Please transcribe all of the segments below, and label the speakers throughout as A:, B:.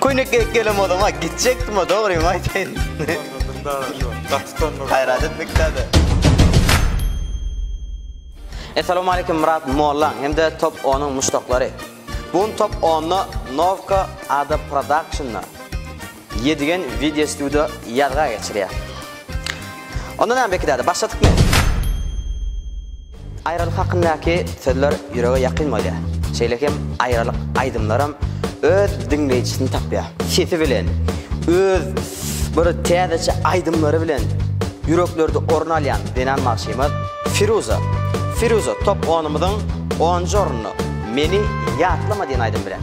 A: Köýnek geýip gelem odama gitjekdim-a, dogrymy aýtaýyn. Gaýrat etmek däl-de. Essalawmaleýkim Myrat mollaň hem-de Top onuň muşdaklary. Bu gün Top onda Novka ada Production-da Ýedigen wideo studio ýazga geçirýär. Onda näme Beki däde, başladykmy? Aýralyk hakyndaky sözler ýürege ýakyn bolýar. Şeýle hem aýralyk aýdymlaram öz diňleýjisini tapýar. Sesi bilen, öz bir täzeçe aýdymlary bilen ýüreklerde orun alýan zenan bagşymyz Firuza. Firuza top onumyzyň onunjy ornunda Meni ýatlama diýen aýdymy bilen.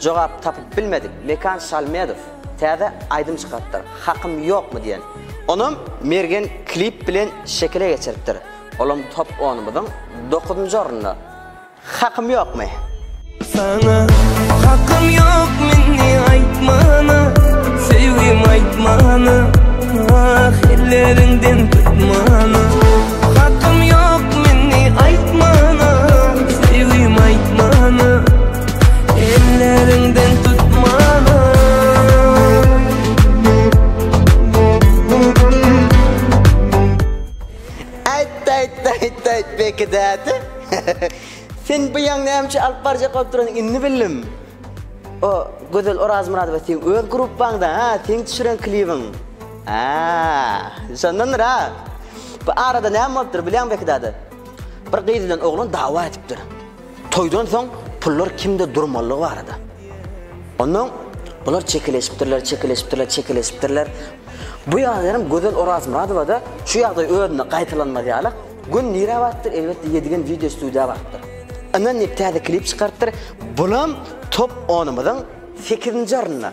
A: Jogap tapyp bilmedik Mekan Şalmedow täze aýdym çykarypdyr, Hakym ýokmy diýen. Onam Mergen klip bilen şekile geçiripdir. Olam top onumyzyň dokuzynjy ornunda. Hakym ýokmy? Saňa hakym ýok meni aýtmana Söýgim aýtmana Ah elleriňden tutmana Hakym ýok meni aýtmana Söýgim aýtmana Bekidäti. Sen bu ýaň nämçe alyp barjak bolup duran indi bildim. O Gözel Orazmyradowa sen öz gruppaňda, ha, sen düşüren klibiň. Ha, şondandyr ha. Bu arada näme bolupdyr bilýän Bekidäti? Bir gyz bilen oglan dawa edipdir. Toýdan soň pullar kimde durmalygy barada. Ondan bular çekeleşipdirler, çekeleşipdirler, çekeleşipdirler. Bu ýagdaýam Gözel Orazmyradowada şu ýagdaý özüne gaýtalanmaz ýaly, gün nirä barypdyr, elbetde Ýedigen wideo studiýa barypdyr. Yndan diýip täze klip çykarypdyr. Bulam top onumyzyň sekizinji ornunda.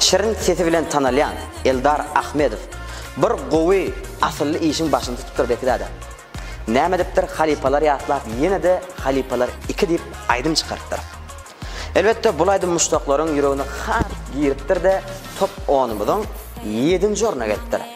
A: Şirin sesi bilen tanalýan Eldar Ahmedow bir gowy asylly işiň başyny tutupdyr Bekizada. Näme edipdir halypalar ýatlap ýene-de halypalar iki diýip aýdym çykarypdyr. Elbetde bul aýdym muşdaklaryň ýüregine has giripdir-de top onumyzyň ýedinji orna gelipdir.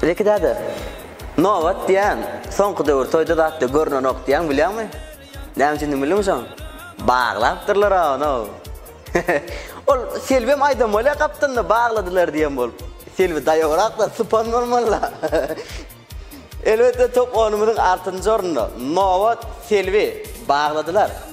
A: Zeki däde, nobat diýýän, soňky döwür toýda zatda görnenok diýýäň, bilýäňmi? Näme üçindigini bildiňmi şoň? Baglapdyrlar-a onuň. Ol Selbem aýdan bolýa gapdalynda bagladylar diýen bolup. Selbi daýowrak-da, sypan bolmaly-la. Elbetde, top onumyzyň altynjy ornunda. Nobat, Selbi, bagladylar.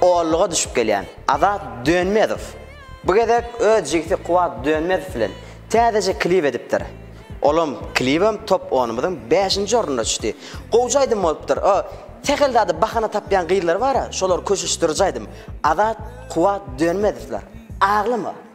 A: Oallyga düşüp gelýän Azat Dönmezow bu gezek öz jigsi Kuwat Dönmezow bilen täzeje klip edipdir. Olam, klibem top onumyzyň bäşinji ornuna düşdi. Gowja aýdym bolupdyr. O sähel zada bahana tapýan gyzlar bara, şolar köşeşdiriji aýdym. Azat, Kuwat Dönmezowlar. Aglama!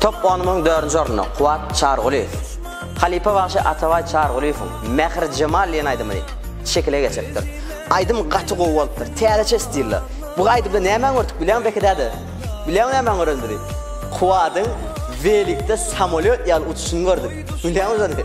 A: Top onumyň dördünji ornunda Kuwat Çargulyýew. Halypa bagşy Atabaý Çargulyýewiň Mähir jemal diýen aýdymyny şekile geçiripdir. Aýdym gaty gowy bolupdyr. Täzeçe stilda. Bu aýdymda nämäni gördük bilýäňmi Beki däde? Bilýäňmi nämäni görenimizi? Kuwadyň welikde samolýot ýaly uçuşyny gördük. Bilýäňmi şony?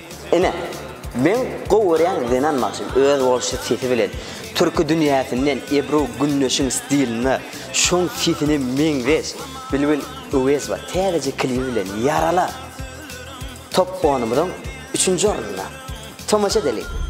A: Ine, meň gowy görýän zenan bagşym öz bolşy sesi bilen türki dünýäsinden Ebru Gündeşiň stilinde şoň sesine meňzeş Bilbil Öwezowa täzeje klibi bilen Ýarala! Top onumyzyň üçünji ornunda. Tomaşa edeliň!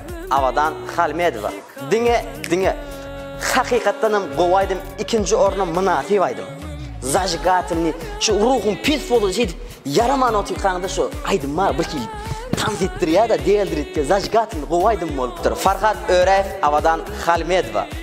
A: Abadan Halmedowa diňe diňe hakykatdanam gowy aýdym ikinji orna mynasyp aýdym. Zajigatelni şu ruhum pes boldy şeýdip ýaraman otyrkaňda şu aýdym maňa bir hili tans etdirýär-de diýeldiritdi zajigatelni gowy aýdym bolupdyr Farhat Öräýew Abadan Halmedowa.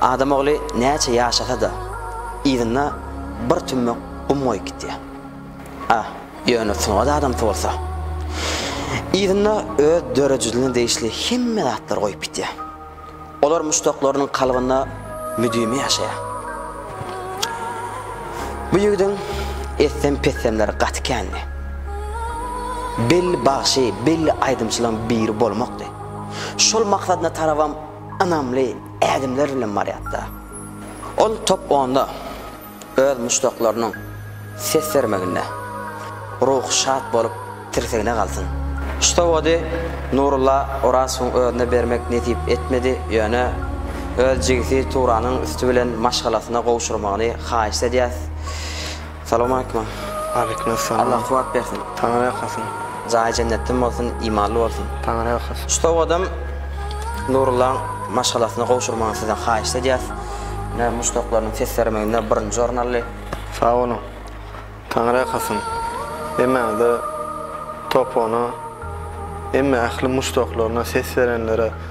A: Adam ogly näçe ýaşasa-da, yzyna bir tümmek gum goýup gitýär. A. Ýöne sungat adamsy bolsa, yzyna öz döredijiligine degişli hemme zatlary goýup gitýär. Olar muşdaklarynyň kalbynda müdimi ýaşaýar. Bu ýigidiň etsem-petsemleri gaty kändi. Belli bagşy, belli aýdymçylaryň biri bolmakdy. Şol maksadyna tarabam ynamly, Ädimler bilen barýardy. Ol top onda öz muşdaklarynyň ses bermeginde. Ruhy şat bolup tirsegine galsyn. Şu sowgady Nurulla Orazowyň özüne bermek nesip etmedi, ýöne öz jigisi Turanyň üsti bilen maşgalasyna gowşurmagyny haýyşt edýäs. Salam aleýkum. Aleýkum essalam. Allah kuwat bersin. Taňry ýakasyn. Jaýy jennetden bolsun, imanly bolsun. Taňry ýakasyn. Şu sowadam Nurullaň maşgalasyna gowşurmagyny sizden haýyşt edýäs. Ine muşdaklarynyň ses bermeginde birinji orun aldy. Sag boluň. Taňry ýakasyn. Hemmäňize topona hemme ähli muşdaklaryna ses berenlere.